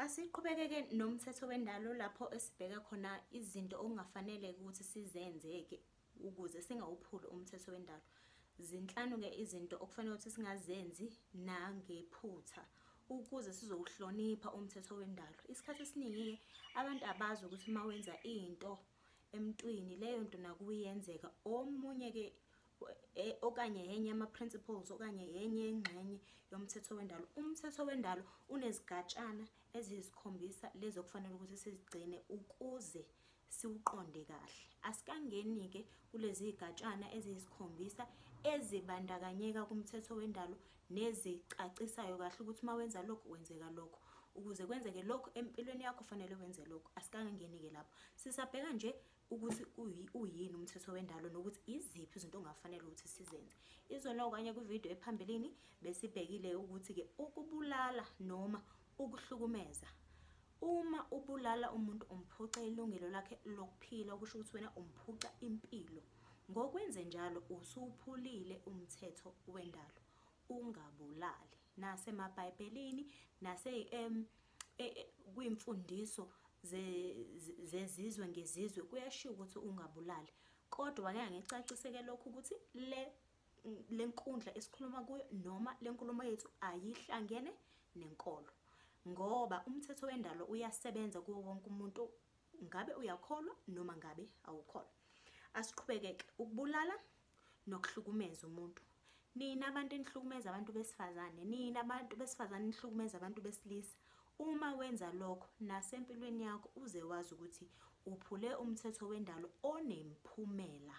Asiqhubekeke nomthetho wendalo lapho esibheka khona izinto okungafanele ukuthi sizenzeke ukuze singawuphuli umthetho wendalo. Zinhlanu-ke izinto okufanele ukuthi singazenzi nangephutha ukuze sizowuhlonipha umthetho wendalo. Isikhathi esiningi-ke abantu abazi ukuthi uma wenza into emntwini leyo nto nakuye iyenzeka. Omunye-ke e, okanye yenye yama-principles okanye yenye yengxenye yomthetho wendalo umthetho wendalo unezigatshana eziyisikhombisa lezi okufanele ukuthi sizigcine ukuze siwuqonde kahle asikangeni-ke kulezi gatshana eziyisikhombisa ezibandakanyeka kumthetho wendalo nezicacisayo kahle ukuthi uma wenza lokhu wenzeka lokhu ukuze kwenzeke lokhu empilweni yakho fanele wenze lokhu asikangangeni-ke lapho sisabheka nje ukuthi uyini umthetho wendalo nokuthi iziphi izinto ongafanele ukuthi sizenze izona okanye kwividiyo ephambilini besibhekile ukuthi-ke ukubulala noma ukuhlukumeza uma ubulala umuntu umphuca ilungelo lakhe lokuphila okusho ukuthi wena umphuca impilo ngokwenze njalo usuphulile umthetho wendalo ungabulali nasemabhayibhelini nase um e, e, kwimfundiso zezizwe ngezizwe kuyashiwo ukuthi ungabulali kodwa wake ngicaciseke lokhu ukuthi le lenkundla esikhuluma kuyo noma lenkulumo yethu ayihlangene nenkolo ngoba umthetho wendalo uyasebenza kuwo wonke umuntu ngabe uyakholwa noma ngabe awukholwa asiqhubekeke ukubulala nokuhlukumeza umuntu nina abantu enihlukumeza abantu besifazane nina abantu besifazane nihlukumeza abantu besilisa uma wenza lokho nasempilweni yakho uze wazi ukuthi uphule umthetho wendalo onemphumela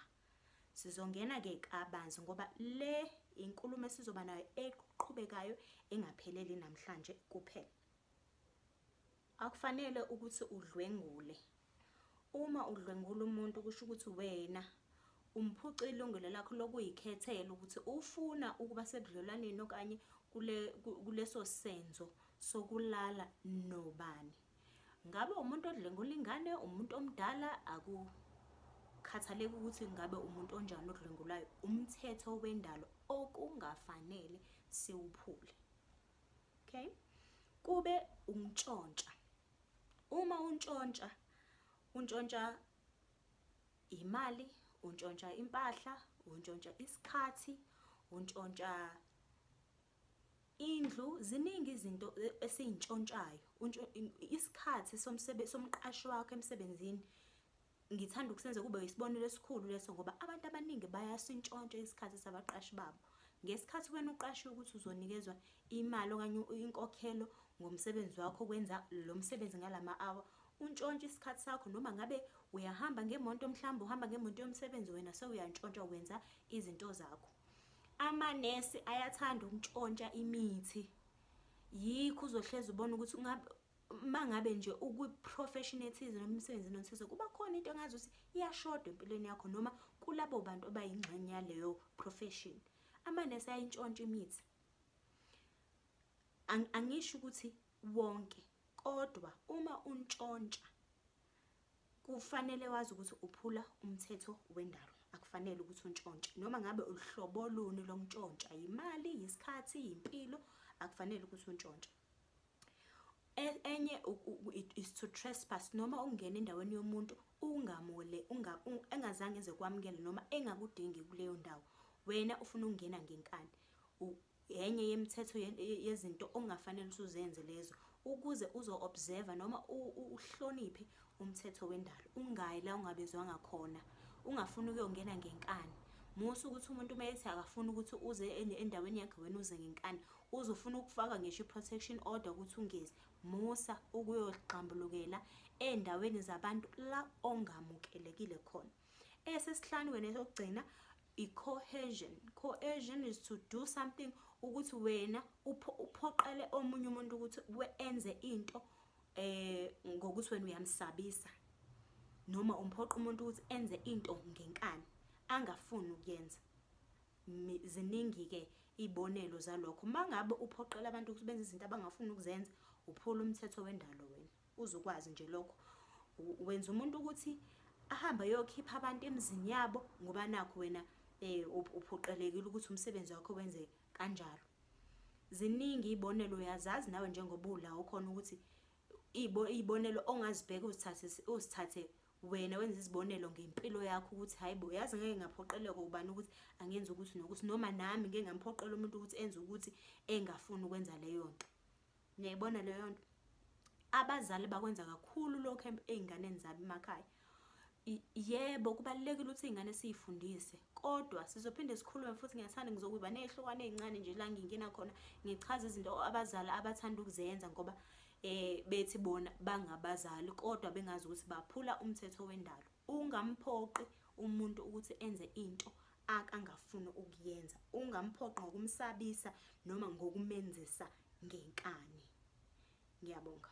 sizongena-ke kabanzi ngoba le inkulumo esizoba nayo eqhubekayo engapheleli namhlanje kuphela Akufanele ukuthi udlwengule. Uma udlwengula umuntu kusho ukuthi wena umphuca ilungelo lakho lokuyikhethela ukuthi ufuna ukuba sebudlelwaneni okanye kule kuleso senzo sokulala nobani. Ngabe umuntu odlwengula ingane, umuntu omdala akukhathaleki ukuthi ngabe umuntu onjani odlwengulayo, umthetho wendalo okungafanele siwuphule. okay kube umtshontsha uma untshontsha untshontsha imali untshontsha impahla untshontsha isikhathi untshontsha indlu ziningi izinto e, esiyintshontshayo isikhathi somsebenzi somqashi wakho emsebenzini Ngithanda ukusenza kube yisibonelo esikhulu leso ngoba abantu abaningi bayasintshontsha isikhathi sabaqashi babo. Ngesikhathi wena uqashiwe ukuthi uzonikezwa imali okanye inkokhelo ngomsebenzi wakho kwenza lo msebenzi ngalama hour, untshontsha isikhathi sakho noma ngabe uyahamba ngemonto mhlawumbe uhamba ngemonto yomsebenzi wena sewuyantshontsha wenza izinto zakho. Amanesi ayathanda ukuntshontsha imithi. Yikho uzohlezi ubona ukuthi mangabe nje ukwi-professionalism noma emsebenzini onthize kuba khona into engazi ukuthi iyashoda empilweni yakho noma kulabo bantu abayingxenye yaleyo profession amanesi ayintshontsha imithi angisho ukuthi wonke kodwa uma untshontsha kufanele wazi ukuthi uphula umthetho wendalo akufanele ukuthi untshontshe noma ngabe uhlobo luni lomntshontsha yimali yisikhathi yimpilo akufanele ukuthi untshontshe E- enye u- u- it- is to trespass noma ukungena endaweni yomuntu ungamule unga- u- engazange eze kwamukele noma engakudingi kuleyo ndawo wena ufuna ukungena ngenkani U- enye yemithetho ye- ye- yezinto ongafanele ukuthi uzenze lezo ukuze uzo-observa noma u- u- uhloniphe umthetho wendalo ungayi la ungabezwanga khona ungafuni ukuyongena ngenkani musa ukuthi umuntu uma ethi akafuni ukuthi uze en- endaweni yakhe wena uze ngenkani Uzofuna ukufaka ngisho i-protection order ukuthi ungezi. Musa ukuyogxambulukela endaweni zabantu la ongamukelekile khona. Esesihlanu wena sokugcina i-cohesion. Cohesion is to do something ukuthi wena uphoqele omunye umuntu ukuthi enze into eh ngokuthi wena uyamsabisa noma umphoqa umuntu ukuthi enze into ngenkani angafuni ukuyenza ziningi-ke iy'bonelo zalokho uma ngabe uphoqela abantu ukuthi benze izinto abangafuni ukuzenza uphula umthetho wendalo wena uzokwazi nje lokho wenza umuntu ukuthi ahambe ayokhipha abantu emizini yabo ngoba nakho wena um uphoqelekile ukuthi umsebenzi wakho wenze kanjalo ziningi iy'bonelo uyazazi nawe njengoba ula ukhona ukuthi iy'bonelo ongazibheka uzithathe wena wenza izibonelo ngempilo yakho ukuthi hayi bo yazi ngeke ngaphoqeleka ubani ukuthi angenza ukuthi nokuthi noma nami ngeke ngamphoqela umuntu ukuthi enze ukuthi engafuni ukwenza leyo nto niyayibona leyo nto abazali bakwenza kakhulu lokho ey'nganeni zabo emakhaya yebo kubalulekile ukuthi iy'ngane siyifundise kodwa sizophinde sikhulume futhi ngiyathanda ngizokuba ney'hlokwane ey'ncane nje la ngingena khona ngichaze izinto abazali abathanda ukuzenza ngoba eh bethi bona bangabazali kodwa bengazi ukuthi baphula umthetho wendalo ungamphoqi umuntu ukuthi enze into akangafuni ukuyenza ungamphoqi ngokumsabisa noma ngokumenzisa ngenkani ngiyabonga